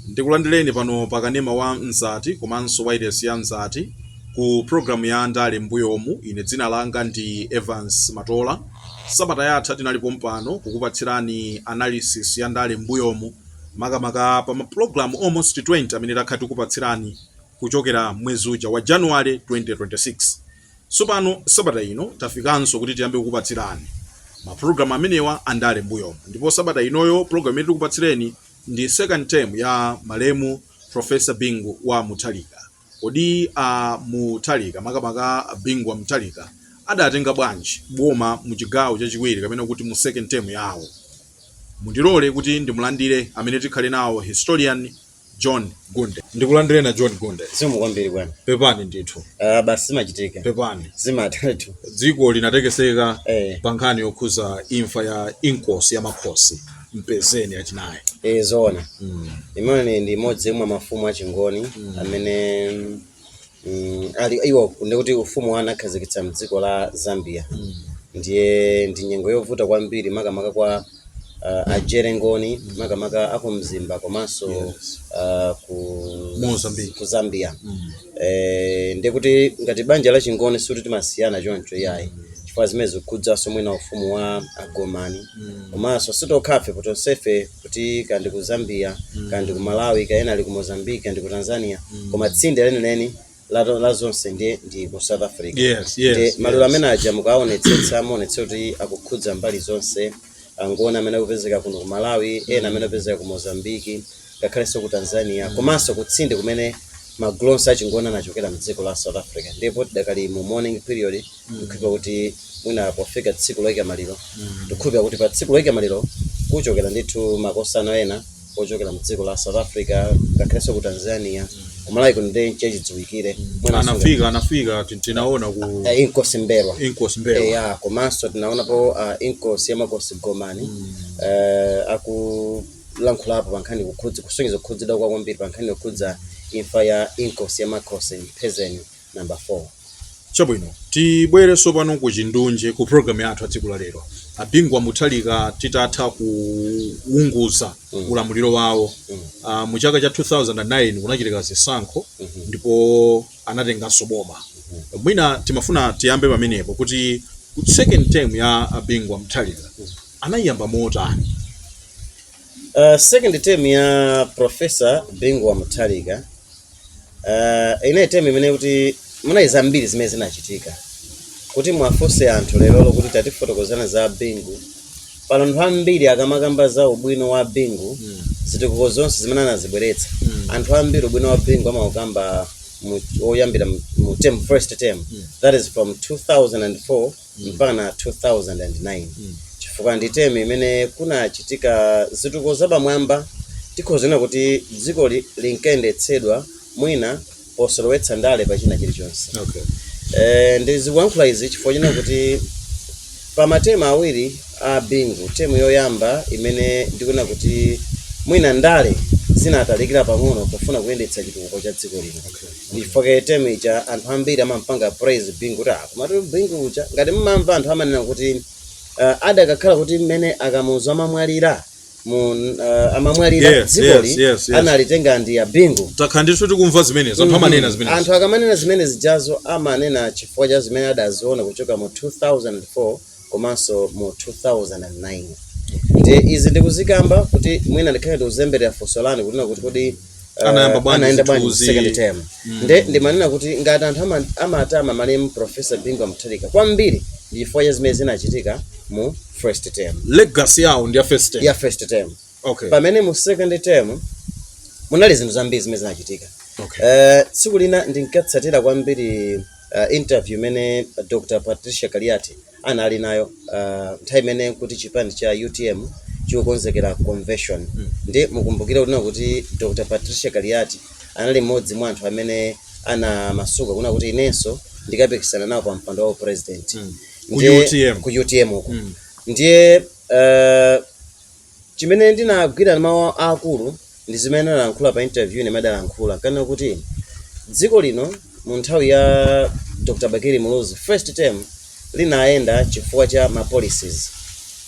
ndikulandireni pano pa kanema wa mzati komanso wailesi ya mzati ku programu ya ndale mbuyomu ine dzina langa ndi evans matola sabata yatha tinali pompano kukupatsirani analysis ya ndale mbuyomu makamaka pa ma pulogalamu almost 20 amene takhala tikupatsirani kuchokera mwezi uja wa January 2026. Tsopano sabata ino tafikanso kuti tiyambe kukupatsirani ma pulogalamu amenewa a ndale m'mbuyomu ndipo sabata inoyo pulogalamu imene tikupatsireni ndi second term ya malemu Prof. Bingu wa Mutharika. Kodi a Mutharika makamaka a Bingu wa Mutharika adatenga bwanji boma mu chigawo chachiwiri kapena kuti mu second term yawo? Mundilole kuti ndimulandire amene tikhale nawo historian John Gunde. Ndikulandireni a John Gunde. Zikomo kwambiri bwana. Pepani ndithu. Ah, basi zimachitika. Pepani. Zimatha. Dziko linatekeseka Eh. pa nkhani yokhuza imfa ya Inkosi ya Makhosi. mpezeni achinayi e zoona mm. imene ndi mmodzi mwa mafumu achingoni mm. amene mm, ali iwo ndikuti ufumu wawo anakhazikitsa mdziko la zambia mm. ndiye ndi nyengo yovuta kwambiri makamaka kwa uh, a jere ngoni mm. makamaka aku mzimba komanso yes. uh, ku, Mozambique. ku zambia mm. eh, ndikuti ngati banja la chingoni sikuti timasiyana choncho iyayi mm. chifukwa zimene zikukhudzanso mwina ufumu wa agomani Mm. komanso si tokhafe poti tonsefe kuti kaya ndi ku zambia Mm. kaya ndi ku malawi kaya ena ali ku mozambique kaya ndi ku tanzania Mm. koma tsinde lenileni la, la zonse ndi, ndi ku south africa Yes, yes, Nde maliro yes. amene aja mukaonetsetsa amaonetsa kuti akukhudza mbali zonse angoni amene akupezeka kuno ku malawi ena amene akupezeka ku mozambiki ngakhalenso ku tanzania komanso kutsinde kumene magulu onse achingoni anachokera mdziko la south africa ndipo tidakali mu mourning period ndikukhulupira kuti mwina pofika tsiku loyika maliro ndikukhulupira kuti pa tsiku loyika maliro kuchokera ndithu makosana ena ochokera mdziko la south africa ngakhalenso ku tanzania kumalawi kuno ndi nchachidziwikire Mwinanso anafika anafika tin- tinaona ku nga- eh, inkosi mbelwa inkosi mbelwa eya komanso tinaonapo uh, inkosi ya makosi gomani uh, aku kulankhulapo pa nkhani kukhudza kusonyeza kukhudzidwa kwawo kwambiri pa nkhani yokhudza imfa ya Inkosi ya Makhosi Mpezeni number 4. Chabwino, tibwere tsopano kuchindunji ku programu yathu ya tsiku la lero. A Bingu wa Mutharika titatha kuunguza Mm. ulamuliro wawo Mm. ah, mu chaka cha 2009 kunachitika zisankho Mhm. ndipo anatenganso boma. Mwina timafuna tiyambe pamenepo kuti second term ya a Bingu wa Mutharika anaiyamba motani? Uh, second term ya professor bingu wa mutharika uh, inayi term imene kuti munayi zambiri zimene zinachitika kuti mwafunse anthu lerolo kuti tatifotokozani za bingu pano anthu ambiri akamakamba za ubwino wa bingu mm. zitukuko zonse zimene anazibweretsa mm. anthu ambiri ubwino wa bingu amaukamba woyambira mu term first term mm. that is from 2004 mpakana 2009 chifukwa ndi term imene kunachitika zitukuko zapamwamba tikhoza kunena kuti dziko li- linkayendetsedwa mwina posolowetsa ndale pa china chilichonse okay. Eh, ndizikuyankhula izi chifukwa chonena kuti pa matemu awiri a bingu term yoyamba imene ndikuona kuti mwina ndale zinatalikira pang'ono pofuna kuyendetsa chitukuko cha dziko lino Chifukwa term ija anthu ambiri amampanga praise Bingu kuti ah komatu Bingu uja ngati mmamva anthu amanena kuti uh, adakakhala kuti mmene akamuzu amamwalira mu uh, amamwalira Yes, yes, dzikoli yes, yes. analitenga ndi a Bingu takhala ndithu tikumva zimenezo anthu amanena zimenezo anthu akamanena zimene zijazo amanena chifukwa cha zimene adaziona kuchoka mu 2004 komanso mu 2009 nde izi ndikuzikamba kuti mwina ndikhale ndikuzemberera funso lanu kunena kuti kodi eh, Anayamba bwanji anayenda bwanji zithuzi? second term nde ndimanena kuti ngati anthu ama- amatama malemu profesa bingu wa mutharika kwambiri ndi chifukwa cha zimene zinachitika mu first term legacy yawo ndi ya first term. ya first term okay pamene mu second term munali zinthu zambiri zimene zinachitika okay Eh, tsiku lina ndinkatsatira kwambiri eh, interview imene dr patricia kaliati anali nayo eh, nthawi imene kuti chipani cha utm chikukonzekera convention nde mukumbukire kunena kuti dr patricia kaliati anali mmodzi mwa anthu amene anamasuka kunena kuti inenso ndikapikisana nawo pa mpando wa president Ku Ndiye- UTM. ku utm uko ndiye eh, Chimene ndinagwira mawu aakulu ndi zimene analankhula pa interview imene adalankhula ankanena kuti dziko lino mu nthawi ya Dr Bakili Muluzi first term linayenda chifukwa cha ma policies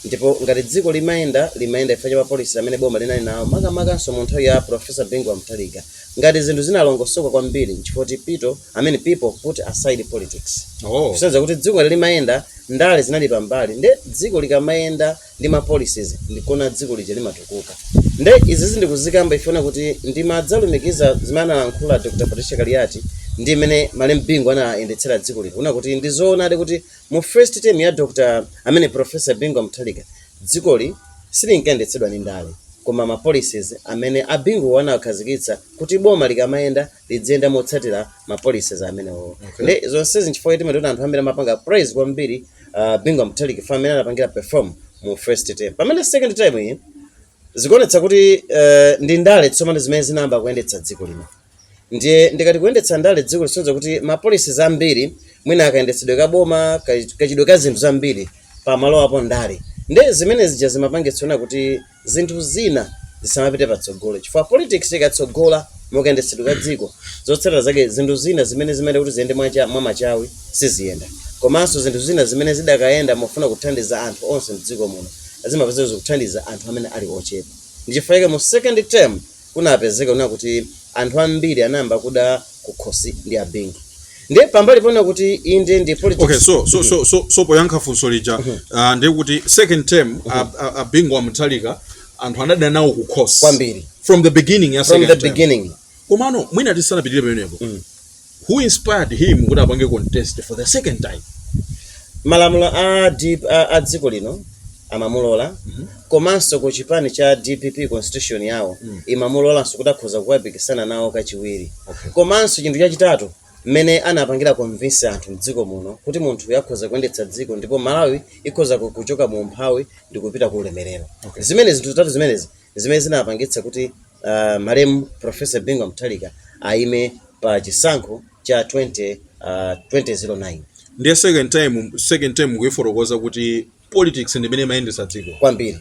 ndipo ngati dziko limayenda limayenda chifukwa cha ma policies amene boma linali nawo makamakanso mu nthawi ya Professor Bingu wa Mutharika ngati zinthu zinalongosoka kwambiri nchifukwa choti pito I mean people put aside politics Oh. kusonyeza kuti dziko ngati limayenda ndale zinali pambali nde dziko likamayenda ndi ma policies ndikona dziko lija limatukuka nde izizi ndikuzikamba pofuna kuti ndimadzalumikiza zimene analankhula dr patricia kaliati ndi mmene malemu bingu anayendetsera dziko lino kunena kuti ndizoonadi kuti mu first term ya dr i mean professor bingu wa mutharika dzikoli silinkayendetsedwa ndi ndale koma ma policies amene abingu anawakhazikitsa kuti boma likamayenda lidziyenda motsatira ma policies amenewo Okay. ndi zonsezi nchifukwa choti mumaona anthu ambiri amapanga praise kwambiri uh, Bingu Mutharika chifukwa mmene anapangira perform mu first term pamene second term iyi zikuonetsa kuti uh, ndi ndale tsopano zimene zinayamba kuyendetsa dziko lino ndiye ndikati kuyendetsa ndale dziko zikusonyeza kuti ma policies ambiri mwina kayendetsedwe ka boma ka- kachidwe ka zinthu zambiri pamalowapo ndale ndi zimene zija zimapangitsano kuti zinthu zina zisamapite patsogolo chifukwa politics ikatsogola mukayendetsedwe ka dziko zotsatira zake zinthu zina zimene zimayenera kuti ziyende mwacha, mwamachawi siziyenda komanso zinthu zina zimene zidakayenda mofuna kuthandiza anthu onse mdziko muno zimapezeka zikuthandiza anthu amene ali ochepa ndi chifukwa chake mu second term kunapezeka kunena kuti anthu ambiri anayamba kuda kukhosi ndi a Bingu ndiye pambali ponena kuti inde ndi politics okay so so so so, so poyankha funso lija uh, ndiye kuti second term uh, uh, a Bingu wa Mutharika anthu anadana nawo kukhosi Kwambiri. from the beginning ya second term. From the beginning komano mwina tisanapitire pamenepo who inspired him kuti apange contest for the second time? Malamulo a dp a, a dziko lino amamulola komanso ku chipani cha dpp constitution yawo imamulolanso kuti akhoza kukapikisana nawo kachiwiri Okay. komanso chinthu chachitatu mmene anapangira convince anthu mdziko muno kuti munthuyu akhoza kuyendetsa dziko ndipo malawi ikhoza ku- kuchoka mu umphawi ndi kupita ku ulemerero Okay. zimene zinthu zitatu zimenezi zimene zinapangitsa kuti malemu Prof Bingu wa Mutharika ayime pa chisankho cha 2009. Ndiye second time, second term mukuyifotokoza kuti politics ndimene imayendetsa dziko. Kwambiri.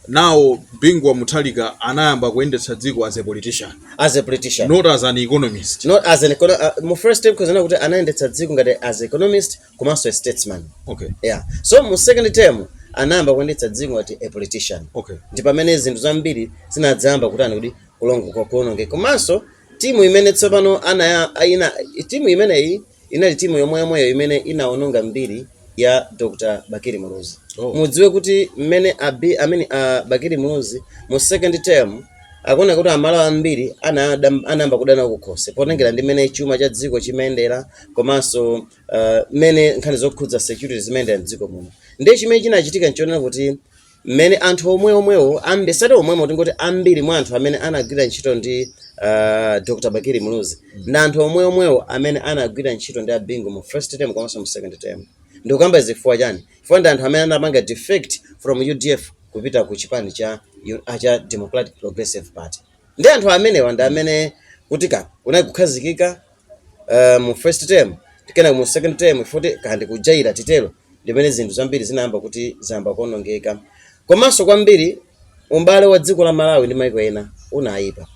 Now Bingu wa Mutharika anayamba kuyendetsa dziko as a politician. As a politician. Not as an economist. Not as an economist. Uh, mu first term kusonyeza kuti anayendetsa dziko ngati as economist komanso a statesman okay yeah so mu second term anayamba kuyendetsa dziko ngati a politician Okay. ndi pamene zinthu zambiri zinadzayamba kutani kuti kulongo kuonongeka komanso timu imene tsopano anaya ina timu imeneyi inali timu yomwe yomweyo imene inaononga mbiri ya dr bakili muluzi Oh. mudziwe kuti mmene abi mmene a bakili muluzi mu second term akuona kuti amalawi ambiri anayada- anayamba kudana nawo kukhosi potengera ndi mmene chuma cha dziko chimayendera komanso ah, mmene nkhani zokhudza security zimayendera mdziko muno ndiye chimene chinachitika nchonena kuti mmene anthu omwe omwewo ambi osati omwewo tingoti ambiri mwa anthu amene anagwira ntchito ndi ah, dr bakili muluzi ndi anthu omwe omwewo amene anagwira ntchito ndi a Bingu mu first term komanso mu second term ndikukamba chifukwa chani chifukwa ndi anthu amene anapanga defect from udf kupita ku chipani cha, ah, cha democratic progressive party ndi anthu amenewa ndi amene kutika kunali kukhazikika uh, mu first term kenako mu second term futi kandi kujaira titero ndimene zinthu zambiri zinayamba kuti zayamba kuonongeka komanso kwambiri ubale wa dziko la malawi ndi maiko ena unayipa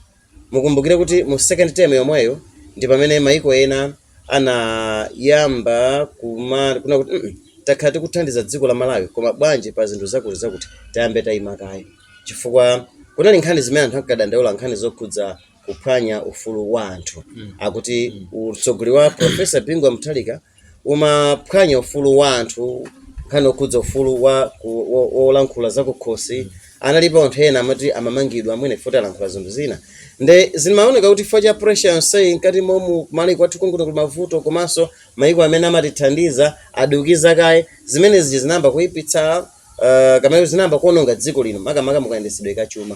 mukumbukire kuti mu second term yomweyo ndi pamene maiko ena anayamba kuma kunena kuti mm -mm, takhala tikuthandiza dziko la malawi koma bwanji pa zinthu zakuti zakuti tiyambe tayima kaye chifukwa kunali nkhani zimene anthu ankadandaula nkhani zokhudza kuphwanya ufulu wa anthu akuti utsogoleri wa profesa bingu wa mutharika umaphwanya ufulu wa anthu nkhani okhudza ufulu wa ku- wo- wolankhula zakukhosi analipo anthu ena amati amamangidwa mwina chifukwa choti alankhula zinthu zina nde zimaoneka kuti chifukwa cha pressure yonseyi mkati momu kumalawi kwathu konkuno kuli mavuto komanso maiko amene amatithandiza adukiza kaye zimenezi zinayamba kuipitsa uh, kapena zinayamba kuononga dziko lino makamaka mukayendetsedwe kachuma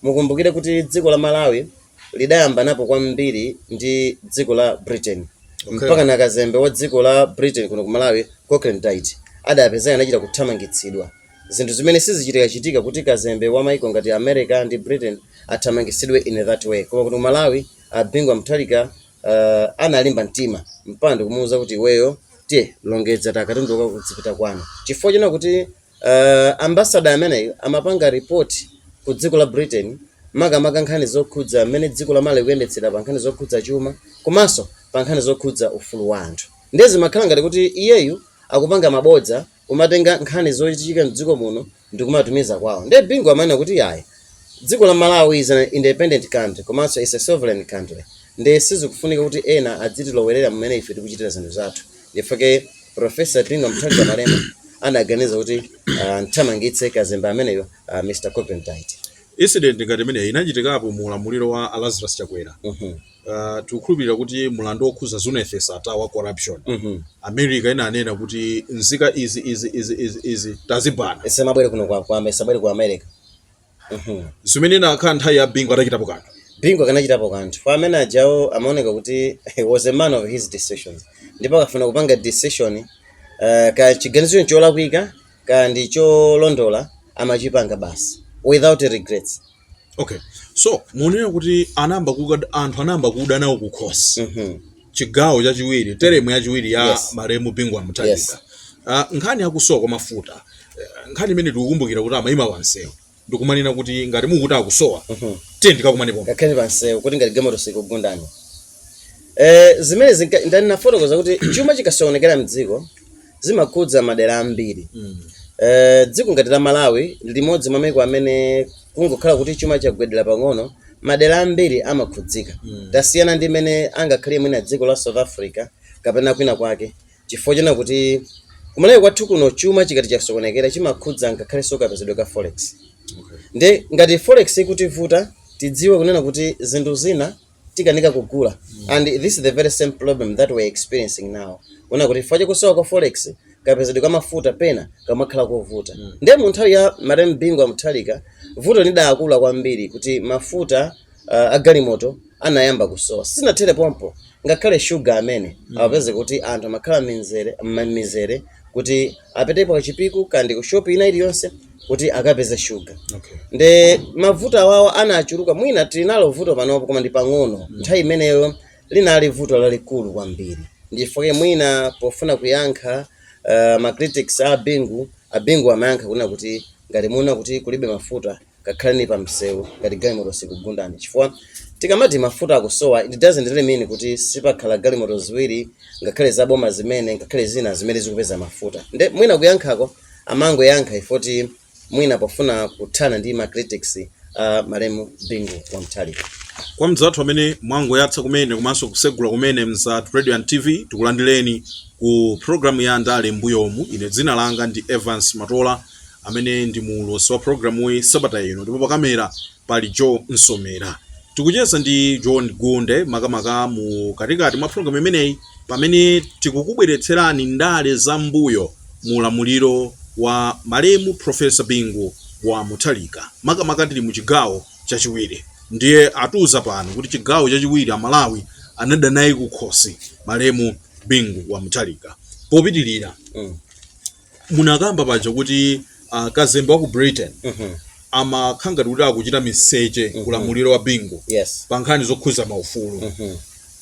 Mukumbukire kuti dziko la Malawi lidayambanapo kwambiri ndi dziko la Britain okay. Mpaka na kazembe wa dziko la Britain kuno ku Malawi Cochrane-Dyet adapezeka anachita kuthamangitsidwa zinthu zimene sizichitika chitika kuti kazembe wa maiko ngati America ndi Britain athamangitsidwe in that way koma kuti Malawi a Bingu wa Mutharika uh, analimba mtima mpaka kumuuza kuti iweyo tiye longedza katundu wako udzipita kwanu chifukwa chonena kuti Uh, ambassador ameneyo amapanga report ku dziko la Britain makamaka nkhani zokhudza mmene dziko la Malawi likuyendetsera pa nkhani zokhudza chuma komanso pa nkhani zokhudza ufulu wa anthu. Ndiye zimakhala ngati kuti iyeyu akupanga mabodza kumatenga nkhani zochitika mdziko muno ndi kumatumiza kwawo. Ndiye Bingu amanena kuti yayi dziko la Malawi is an independent country komanso is a sovereign country. Ndiye sizikufunika kuti ena adzitilowerera mmene ife tikuchitira zinthu zathu. Ndi chifukwa chake Professor Bingu Mutharika malemu anaganiza kuti uh, amthamangitse kazembe ameneyo uh, Mr. Cochrane-Dyet. Incident ngati imeneyi inachitikapo mu ulamuliro wa a Lazarus Chakwera. Uh -huh. Uh, tikukhulupirira kuti mlandu wokhudza Zuneth Sattar wa corruption uh -huh. America inanena kuti nzika izi izi izi izi izi tazibana zisamabwere kuno kwa kwa zisamabwere ku America Mhm. zimene ikanakhala nthawi ya bingu akadachitapo kanthu bingu akanachitapo kanthu chifukwa amene ajawo amaoneka kuti he was a man of his decisions ndipo akafuna kupanga decision uh, kaya chiganizo cholakwika kaya ndi cholondola amachipanga basi without regrets okay so mukunena kuti anayamba kuda anthu anayamba kuda nawo kukhosi Mhm. chigawo chachiwiri teremu yachiwiri ya Yes. malemu bingu Yes. wa mutharika Ah, nkhani yakusowa kwa mafuta eh, nkhani imene tikukumbukira kuti amayima pansewu ndikumanena kuti ngati mukuti akusowa tiyeni tikakumane pomwe mukakhale pansewu kuti ngati galimoto sikugundani eh zimene zinka- ndani nafotokoza kuti chuma chikasokonekera mdziko zimakhudza madera ambiri Mm. Eh, dziko ngati la malawi ndi limodzi mwa maiko amene kungokhala kuti chuma chagwedera pang'ono madera ambiri amakhudzika Mm. tasiyana ndi mene angakhale mwina dziko la south africa kapena kwina kwake chifukwa chonena kuti kumalawi kwathu kuno chuma chikati chasokonekera chimakhudza ngakhalenso kapezedwe ka forex Okay. nde ngati forex ikutivuta tidziwe kunena kuti zinthu zina tikanika kugula and this is the very same problem that we're experiencing now kunena kuti chifukwa chakusowa kwa forex kapezedwe ka mafuta pena kamakhala kovuta ndiye mu nthawi ya malemu bingu wa mutharika vuto lidakula kwambiri kuti mafuta uh, agalimoto anayamba kusowa sizinathere pompo ngakhale shuga amene amapezeka kuti anthu amakhala m'mizere kuti apitepo kachipiku kaya ndi ku shop ina iliyonse kuti akapeze shuga Okay. nde mavuto awawa anachuluka mwina tinalo vuto panopo koma ndi pang'ono nthawi imeneyo linali vuto lalikulu kwambiri ndi chifukwa chake mwina pofuna kuyankha uh, ma critics a bingu abingu amayankha kunena kuti ngati muona kuti kulibe mafuta kakhaleni pa msewu ngati galimoto sikugundani chifukwa tikamati mafuta akusowa it doesn't really mean kuti sipakhala galimoto ziwiri ngakhale za boma zimene ngakhale zina zimene zikupeza mafuta nde mwina kuyankhako amangoyankha ifoti mwina pofuna kuthana ndi ma critics a malemu bingu wa mutharika kwa mzathu amene mwangoyatsa kumene komanso kusegula kumene mzati radio and tv tikulandireni ku programu ya ndale mbuyomu ine dzina langa ndi evans matola amene ndi muulutsi wa programuyi sabata ino ndipo pakamera pali Joe Nsomera. Tikucheza ndi John Gunde makamaka mu katikati mwa programu imeneyi pamene tikukubweretserani ndale za mbuyo mu ulamuliro wa malemu Profesa Bingu wa Mutharika makamaka tili mu chigawo chachiwiri. Ndiye atiuza pano kuti chigawo chachiwiri Amalawi anada naye kukhosi malemu Bingu wa Mutharika. Popitirira, Mm. munakamba paja kuti uh, kazembe wa ku britain amakhala ngati kuti akuchita miseche kulamuliro wa bingu yes pa nkhani zokhuza maufulu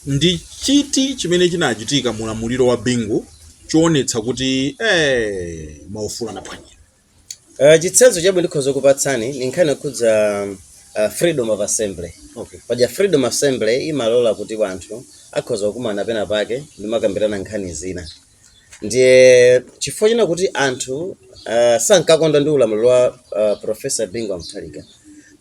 ndi chiti chimene chinachitika mulamuliro wa bingu choonetsa kuti eh, maufulu anaphwanyidwa uh, chitsanzo chabwino ndikhoza kupatsani ni nkhani yokhudza uh, freedom of assembly okay. paja freedom assembly imalola kuti wanthu akhoza kukumana pena pake ndimakambirana nkhani zina ndiye chifukwa chonena kuti anthu uh, sankakondwa ndi ulamuliro wa uh, profesa bingu wa mutharika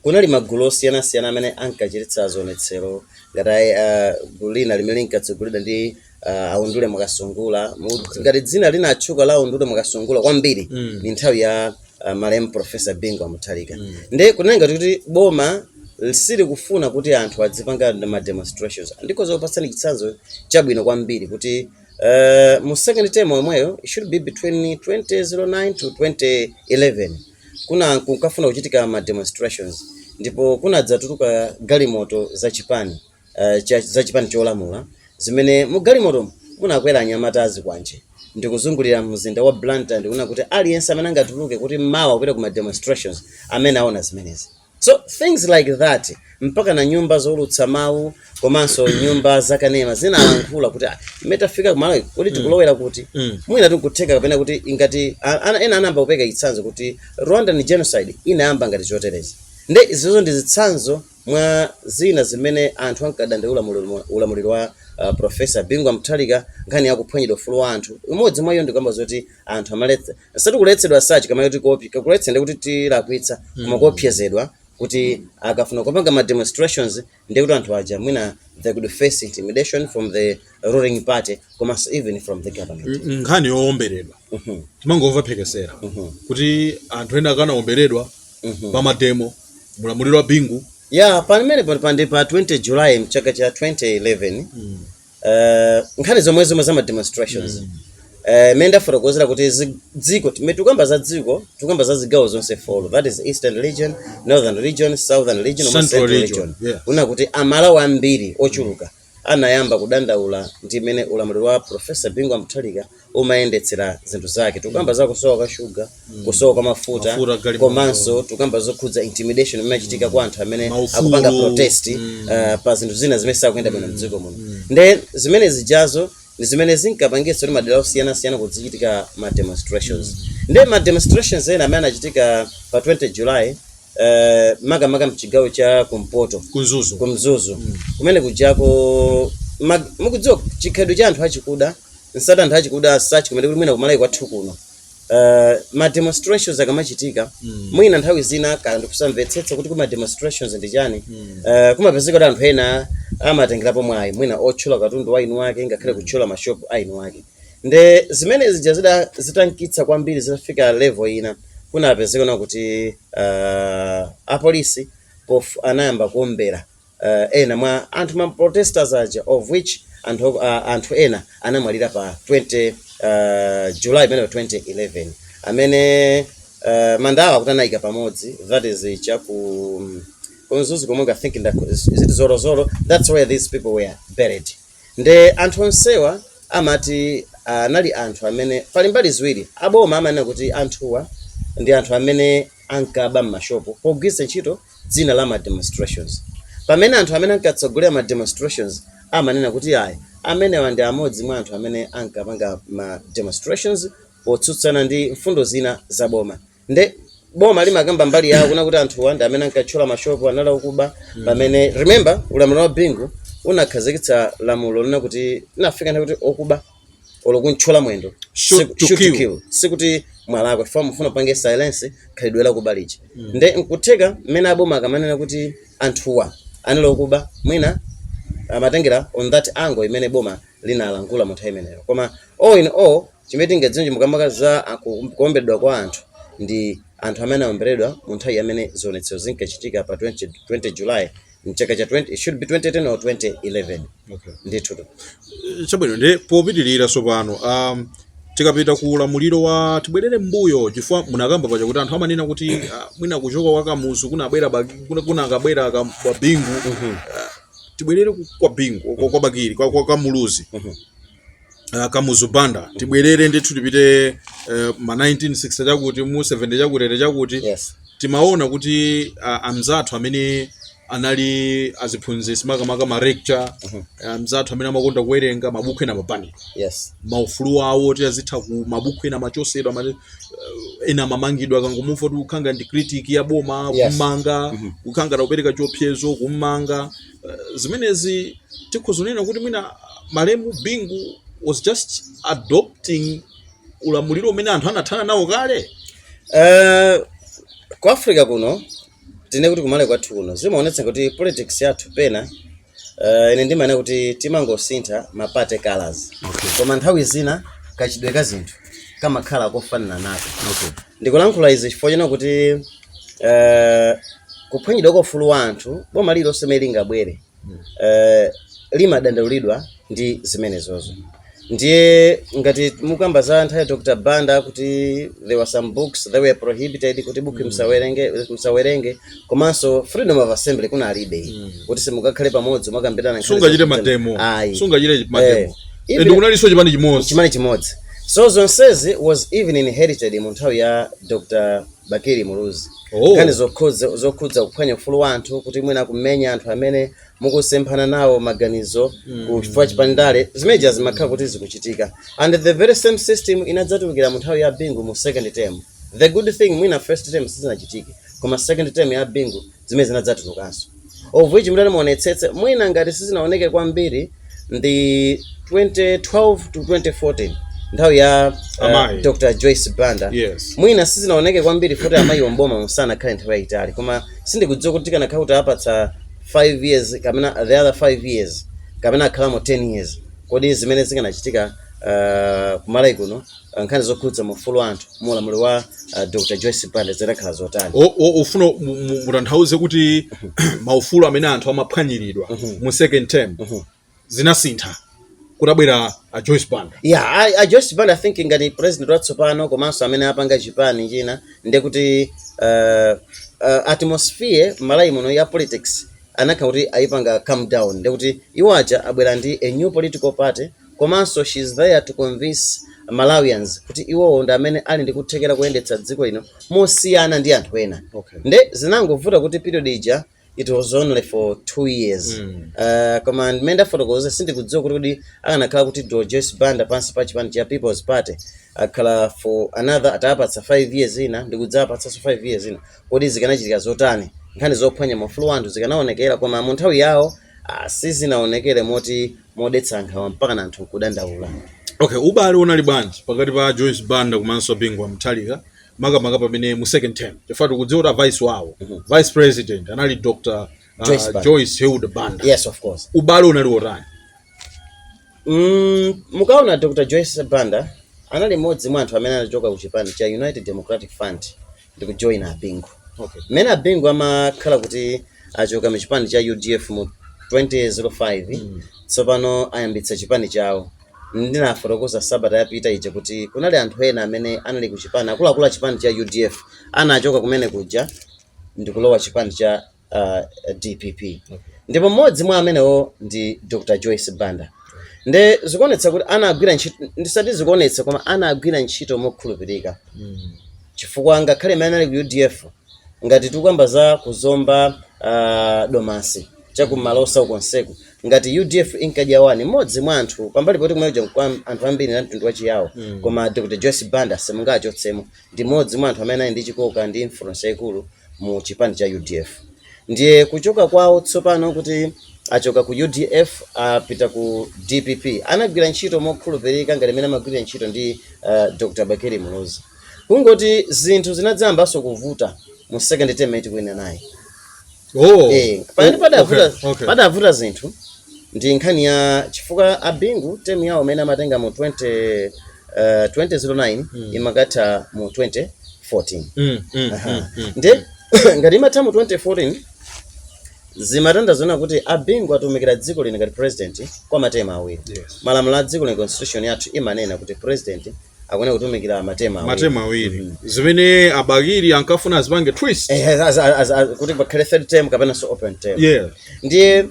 kunali magulu osiyanasiyana amene ankachititsa zionetsero ngati uh, gulu lina limene linkatsogoleredwa ndi uh, aundule mwakasungula ngati dzina linatchuka la aundule mwakasungula kwambiri mm. ni nthawi ya uh, malemu profesa bingu wa mutharika mm. ndiye kunali ngati kuti boma silikufuna kuti anthu adzipanga ma demonstrations ndikhoza kupatsani chitsanzo chabwino kwambiri kuti Uh, mu second term yomweyo it should be between 2009 to 2011 kuna kunkafuna kuchitika ma demonstrations ndipo kunadzatuluka galimoto za chipani uh, cha, za chipani cholamula zimene mu galimoto munakwera anyamata azikwanje ndikuzungulira mzinda wa Blantyre ndikunena kuti aliyense amene angatuluke kuti mawa apite ku ma demonstrations amene aona zimenezi So things like that mpaka na nyumba zoulutsa mawu komanso nyumba zakanema zinalankhula kuti "Ah, mmene tafika ku Malawi kodi tikulowera kuti Mm. mwina tikutheka kapena kuti ingati a- ana- ena anayamba kupeka chitsanzo kuti rwandan genocide inayamba ngati choterezi nde izizo ndi zitsanzo mwa zina zimene anthu ankadandaula mu ulamu- ulamuliro wa uh, profesa Bingu wa Mutharika nkhani yakuphwanyidwa ufulu wa anthu imodzi mwa iyo ndikukamba zoti anthu amaletsa sati kuletsedwa sachi kama kuti kopi kuletsa ndi kuti tikulakwitsa koma Mm. kuopsezedwa kuti akafuna kupanga ma demonstrations ndi kuti anthu aja mwina they could face intimidation from the ruling party komanso even from the government N- nkhani yoomberedwa Mhm, timangomva mphekesera mhm, kuti anthu ena anakaomberedwa mhm. pa mademo mulamuliro wa Bingu yeah pamene pano pandi pa 20 july mchaka cha 2011 Mm. Eh, nkhani zomwe zomwe za ma demonstrations Eh, imene ndafotokozera kuti zi- dziko tikamati tikukamba za dziko tikukamba za zigawo zonse folo that is eastern region northern region southern region koma Central central region, region yeah. unaona kuti amalawi ambiri ochuluka anayamba kudandaula ndi mmene ulamuliro wa profesa Bingu wa Mutharika umayendetsera zinthu zake tikukamba za kusowa kwa shuga kusowa kwa mafuta Mafuta, galimoto. komanso tikukamba zokhudza intimidation imene imachitika kwa anthu amene Maufulu. akupanga protest uh, pa zinthu zina zimene sizikuyenda bwino mdziko muno nde zimene zijazo ndi zimene zinkapangitsa kuti madera osiyanasiyana kuzichitika ma demonstrations nde ma demonstrations ena amene anachitika pa 20 july uh, makamaka mchigawo cha kumpoto ku Mzuzu ku Mzuzu kumene kujako ma- mukudziwa chikhalidwe cha anthu achikuda sati anthu achikuda sachi kumene kuti mwina ku Malawi kwathu kuno uh, ma demonstrations akamachitika Mm. mwina nthawi zina kaya ndikusamvetsetsa kuti kodi ma demonstrations ndi chani Mm. uh, kumapezeka kuti anthu ena amatengerapo mwayi mwina othyola katundu wa eni ake ngakhale kuthyola mashopu a eni ake nde zimene zija zida zitamkitsa kwambiri zitafika level ina kunapezeka na kuti uh, apolisi pof anayamba kuombera uh, ena mwa anthu ma protesters aja of which anthu, uh, anthu ena anamwalira pa 20 uh, July pamene pa 2011 amene uh, manda awo akuti anayika pamodzi that is cha ku um, ku Mzuzu komwe I think nda- is it Zolozolo that's where these people were buried nde anthu onsewa amati anali anthu amene pali mbali ziwiri aboma amanena kuti anthuwa ndi anthu amene ankaba m'mashopu pogwiritsa ntchito dzina la ma demonstrations pamene anthu amene ankatsogolera ma demonstrations amanena kuti ayi amenewa ndi amodzi mwa anthu amene ankapanga ma demonstrations potsutsana ndi mfundo zina za boma nde boma limakamba mbali yawo kunena kuti anthuwa ndi amene ankatchola mashopu anali okuba pamene remember ulamuliro wa bingu unakhazikitsa lamulo lina kuti inafika nthawi kuti okuba olo kumtchola mwendo Shoot siku- to shoot to kill. kill. sikuti mwalakwa chifukwa mufuna mupange silence khalidwe lakuba lija nde nkutheka mmene aboma akamanena kuti anthuwa anali okuba mwina amatengera on that angle imene boma linalankhula mu nthawi imeneyo koma all in all chimene tingadziwe makamaka za a- ku- kuomberedwa kwa anthu ndi anthu amene aomberedwa mu nthawi imene zionetsero zinkachitika pa 20, 20 july mchaka cha 20 it should be 2010 or 2011 Okay. ndithu chabwino nde popitirira tsopano um, tikapita ku ulamuliro wa tibwerere m'mbuyo chifukwa munakamba paja kuti anthu amanena kuti uh, mwina kuchoka kwa kamuzu kunabwera Baki- kuna- kunakabwera ka- kwa bingu uh, tibwerere ku- kwa bingu kwa, kwa bakili kwa, kwa kamuzu uh, kamuzu banda tibwerere ndithu tipite uh, ma 1960 chakuti mu 70 chakutere chakuti yes timaona kuti uh, amzathu amene anali aziphunzitsi makamaka ma lecturer amzathu amene amakonda kuwerenga mabuku ena mapani yes maufulu awo oti azitha ku mabuku ena amachotsedwa amene, uh, ena amamangidwa akangomva kuti ukukhala ngati critic ya boma Yes. kummanga kukhala ngati ukupereka chiopsezo kummanga zimenezi tikhoza kunena kuti mwina malemu Bingu was just adopting ulamuliro umene anthu anathana nawo kale Eh, ku africa kuno tinene kuti kuMalawi kwathu kuno zimaonetsa kuti politics yathu pena eh, ine ndimaona kuti timangosintha ma party colors Okay. koma nthawi zina kachitidwe ka zinthu kamakhala kofananako Okay. ndikulankhula izi chifukwa chonena kuti eh, kuphwanyidwa kwa ufulu wa anthu boma lililonse limene lingabwere eh, limadandaulidwa ndi zimenezozo ndiye ngati mukamba za nthawi ya dr banda kuti there were some books that were prohibited kuti buku msawerenge msawerenge komanso freedom of assembly kunalibe kuti simungakhale pamodzi mukambirana nkhani sungachite za- mademo Ayi. sungachite Eh, mademo even- ende kunalinso chipani chimodzi chipani chimodzi so zonsezi was even inherited mu nthawi ya dr bakili muluzi Oh. nkhani zokhudza zokhudza kuphwanya ufulu wa anthu kuti mwina kumenya anthu amene mukusemphana nawo maganizo pachifukwa cha ndale zimene zija zimakhala kuti zikuchitika and the very same system inadzatulukira mu nthawi ya bingu mu second term the good thing mwina first term sizinachitike koma second term ya bingu zimene zinadzatulukanso of which mutati muonetsetse mwina ngati sizinaoneke kwambiri ndi 2012 to 2014 nthawi ya uh, Amayi. dr joyce banda Yes. mwina sizinaoneke kwambiri futi amayiwo m'boma sanakhale nthawi yayitali koma sindikudziwa kuti tikanakhala kuti apatsa 5 years kapena the other 5 years kapena akhalamo 10 years kodi zimene zikanachitika uh, kuMalawi kuno uh, nkhani zokhudza maufulu a anthu mu ulamuliro wa uh, dr joyce banda zikadakhala zotani O- o- ufuna mu- mu- mutanthauze kuti maufulu amene anthu amaphwanyiridwa mu second term zinasintha kutabwera a joyce banda yeah a, a joyce banda i think ngati president watsopano komanso amene apanga chipani china ndiye kuti uh, uh, atmosphere m'Malawi muno ya politics anakhala kuti ayipanga calm down ndiye kuti iwo aja abwera ndi a new political party komanso she is there to convince Malawians kuti iwowo ndi amene ali ndi kuthekera koyendetsa dziko lino mosiyana ndi anthu ena Okay. nde zinangovuta kuti period ija it was only for two years Mm. uh, koma mmene ndafotokoza sindikudziwa kuti kuti akanakhala kuti Dr. Joyce Banda pansi pa chipani cha People's Party akhala for another atawapatsa 5 years ina ndikudzapatsanso 5 years ina kodi zikanachitika zotani nkhani zophwanya maufulu a anthu zikanaonekera koma mu nthawi yawo ah, sizinaonekere moti modetsa nkhawa mpakana anthu nkudandaula okay ubale unali bwanji pakati pa joyce banda komanso bingu wa mutharika makamaka pamene mu second term chifukwa tikudziwa kuti avice wawo vice president anali dr uh, Joyce Banda. joyce hilda banda yes of course ubale unali wotani mm, mukaona dr joyce banda anali mmodzi mwa anthu amene anachoka ku chipani cha united democratic front ndikujoyina abingu Okay. mmene abingu amakhala kuti achoka mu chipani cha udf mu 2005 tsopano ayambitsa chipani chawo ndinafotokoza sabata yapita ija kuti kunali anthu ena amene anali ku chipani akuluakulu a chipani cha udf anachoka kumene kuja ndikulowa chipani cha uh, dpp ndipo mmodzi mwa amenewo ndi dr joyce banda nde zikuonetsa kuti anagwira ntchito ndisati zikuonetsa koma anagwira ntchito mokhulupirika chifukwa ngakhale mmene anali ku udf ngati tikukamba za kuzomba uh, domasi chakuMalosa uko konseku ngati udf inkadya wani mmodzi mwa anthu pambali poti kumeneko kuja anthu ambiri ndi a mtundu wachiyawo mm. koma dr joyce banda simungachotsemo ndi mmodzi mwa anthu amene anali ndi chikoka ndi influence yaikulu mu chipani cha udf ndiye kuchoka kwawo tsopano kuti achoka ku udf apita ku dpp anagwira ntchito mokhulupirika ngati mmene amagwirira ntchito ndi uh, dr bakili muluzi kungoti zinthu zinadzayambanso kuvuta mu second term atayima naye oh. eh, pamene padavuta okay, okay. padavuta zinthu ndi nkhani ya chifukwa abingu temu yawo amene amatenga mu 20 uh, 2009 mm. imakatha mu 2014 Mm, mm, Aha. mm, mm. nde ngati imatha mu 2014 zimatanthauza kunena kuti a Bingu atumikira dziko lino ngati president kwa matema awiri Yes. malamulo a dziko lino constitution yathu imanena kuti president akuyenera kutumikira matema awiri. matema awiri zimene a Bakili ankafuna azipange twist Eh, as- as- as- as- kuti pakhale third term kapenanso open term yes Ndiye,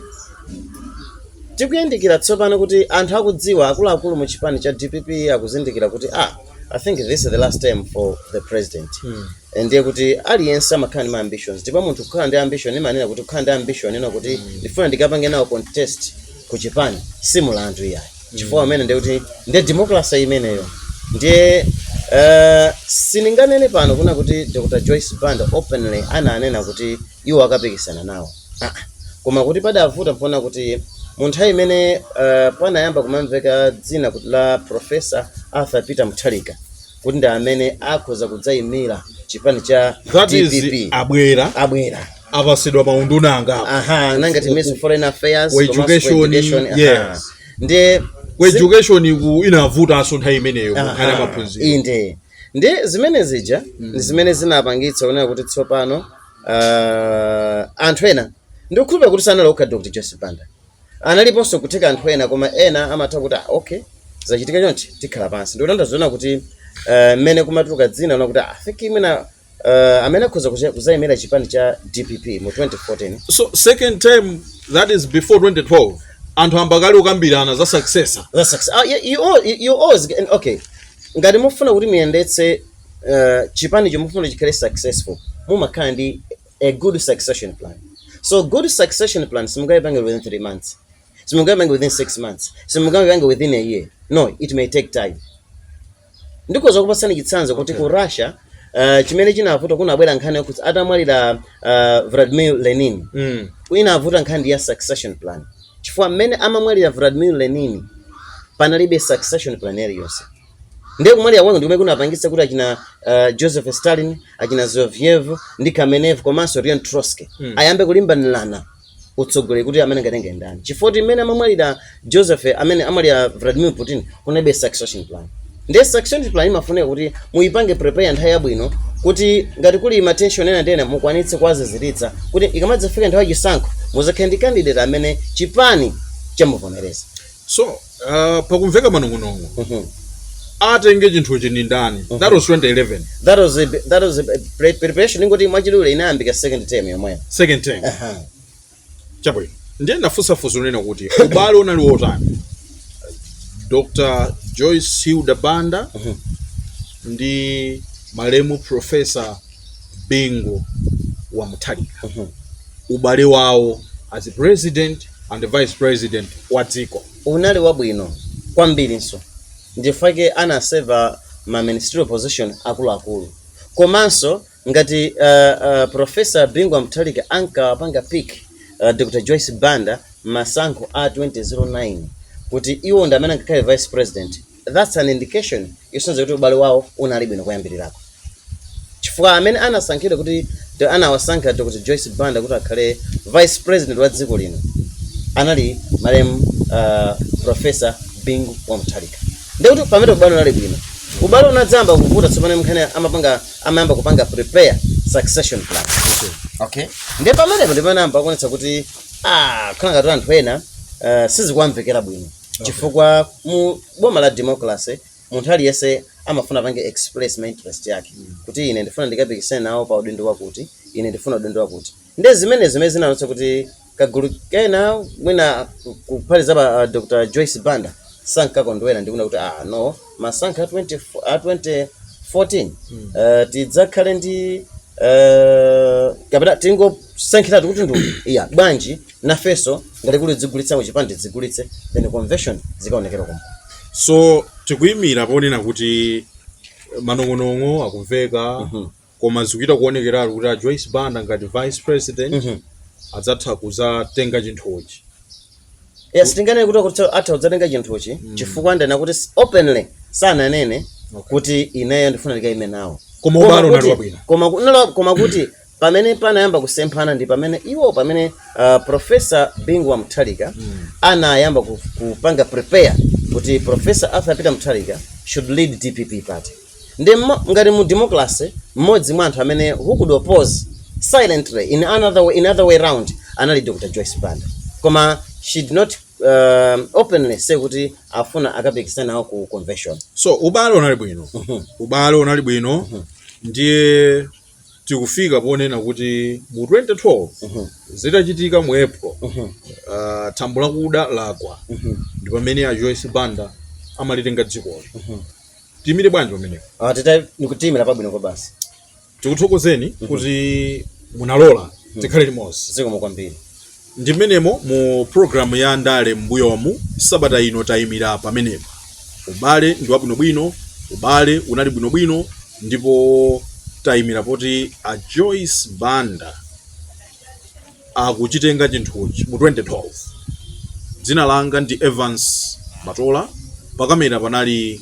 tikuyandikira tsopano kuti anthu akudziwa, akuluakulu mu chipani cha dpp akuzindikira kuti ah, I think this is the last term for the president. Mm. Eh, ndiye kuti aliyense amakhala ndi ma ambitions. Ndipo munthu kukhala ndi ambition imanena kuti kukhala ndi ambition kunena kuti mm. ndifuna ndikapange nawo contest ku chipani si mulandu iyayi. Mm. Chifukwa imene ndiye kuti ndi democracy imeneyo. Ndiye uh, sindinganene pano kunena kuti Dr. Joyce Banda openly ananena kuti iwo akapikisana nawo ah, koma kuti padavuta mponena kuti mu nthawi imene uh, panayamba kumamveka dzina kuti la profesa arthur peter mutharika kuti ndi amene akhoza kudzayimira chipani cha that is dpp abwera abwera apasidwa maunduna angapo aha ngati ministry of foreign affairs Ku komanso ku education, education, aha. yes. ndi ku education kunavutanso nthawi imeneyo kukhale Aha, maphunziro inde ndi zimene zija ndi zimene zinapangitsa kunena kuti tsopano uh, anthu ena ndikukhulupirira kuti sanali okha dr joyce banda analiponso kutheka anthu ena koma ena amatha kuti ah, okay zachitika chonchi tikhala pansi ndipo ndaziona kuti uh, mmene kumatuluka dzina kunena kuti I think imena uh, amene akhoza kuza- kuzayimira chipani cha dpp mu 2014 so second term that is before 2012 anthu angakhale akukambirana za successor That's success. Ah, you, you, all- you, you always, and okay ngati mufuna kuti muyendetse uh, chipani chomwe mufuna chikhale successful mumakhala ndi a good succession plan so good succession plan simungayipange within three months simungayipange within six months simungayipange within a year no it may take time ndikhoza kukupatsani chitsanzo kuti ku russia uh, chimene chinavuta kunabwera nkhani yokuti atamwalira uh, vladimir lenin Mm. inavuta nkhani ya succession plan chifukwa mmene amamwalira vladimir lenin panalibe succession plan iliyonse Ndiye kumwalira kwake ndikumene kunapangitsa kuti achina uh, Joseph Stalin, achina Zinoviev ndi Kamenev komanso Leon Trotsky mm. ayambe kulimbanirana utsogoleri kuti amene angatenge ndani, chifukwa kuti mmene amamwalira Joseph mmene amamwalira Vladimir Putin kunalibe succession plan. Ndiye succession plan imafunika kuti muyipange prepare nthawi yabwino kuti ngati kuli ma tension ena ndi ena mukwanitse kuwaziziritsa kuti ikamadzafika nthawi yachisankho muzakhale ndi candidate amene chipani chamuvomereza. So uh, pakumveka manong'onong'o Mhm. atenge chinthuchi ndi ndani that was 2011 that was a, that was a pre- preparation tingoti mwachidule inayambika second term yomweyo second term Aha. chabwino ndiye ndafunsa funso unena kuti ubale unali wotani dr joyce hilda banda ndi malemu profesa bingu wa muthalika ubale wawo as president and vice president wa dziko unali wabwino kwambirinso ndifake anaseva ma ministerial position akuluakulu komanso ngati uh, uh, profesa bingu wa muthalika ankawapanga pick uh, dr joyce banda m'masankho a 2009 kuti iwo ndi amene angakhale vice president that's an indication yosonyeza kuti ubale wawo unali bwino kuyambirirako chifukwa amene anasankhidwa kuti to- anawasankha dr joyce banda kuti akhale vice president wa dziko lino anali malemu uh, professor bingu wa mutharika ndiye kuti pamene ubale unali bwino ubale unadzayamba kuvuta tsopano mnkhani amapanga amayamba kupanga prepare succession plan okay ndi pamenepo ndipamene anayamba kuonetsa kuti ah khala ngati anthu ena uh, sizikuwamvekera bwino chifukwa mu boma la democracy munthu aliyense amafuna apange express ma interest yake kuti ine ndifuna ndikapikisane nawo pa udindo wakuti ine ndifuna udindo wakuti nde zimene zimene zinaonetsa kuti kagulu kena mwina ku- kuphatikizapo ah, dr joyce banda sankakondwera ndikuona kuti ah no masankho a 20 a 2014 eh, tidzakhale ndi eh, kapena tingosankhiratu kuti ndi uja bwanji nafenso ngati kuli kudzigulitsa kuchipani tidzigulitse then convention zikaonekere komko so tikuyimira ponena kuti manong'onong'o akumveka koma zikuchita kuonekeratu kuti a joyce banda ngati vice president adzatha kuzatenga chinthuchi yes tinganene kuti kuti atha kudzatenga chinthuchi chifukwa ndanena kuti s- openly sananene kuti ineyo ndifuna ndikaime nawo Koma ubale unali kuti- wabwino. koma ku- unali wa- koma kuti pamene panayamba kusemphana ndi pamene iwo pamene uh, profesa bingu wa mutharika anayamba ku- kupanga prepare kuti profesa arthur peter mutharika should lead dpp party nde mmo- ngati mu democracy mmodzi mwa anthu amene who could oppose silently in another way, in other way round anali dr joyce banda koma she did not um, openly say kuti afuna akapikisane nawo ku convention so ubale unali bwino ubale unali bwino ndiye tikufika ponena kuti mu 2012 zitachitika mu april ah, thambo lakuda lagwa ndi pamene a joyce banda amalitenga dzikoli tiimire bwanji pamenepo Ah, tita ndikuti tiimira pabwino kwa basi tikuthokozeni kuti munalola tikhale limodzi zikomo kwambiri Ndi mmenemo mu programu ya ndale mmbuyomu, sabata ino tayimira pamenepa. Ubale ndi wabwinobwino, ubale unali bwinobwino, ndipo tayimira poti a Joyce Banda akuchitenga chinthuchi mu 2012. Dzina langa ndi Evance Matola, pakamera panali.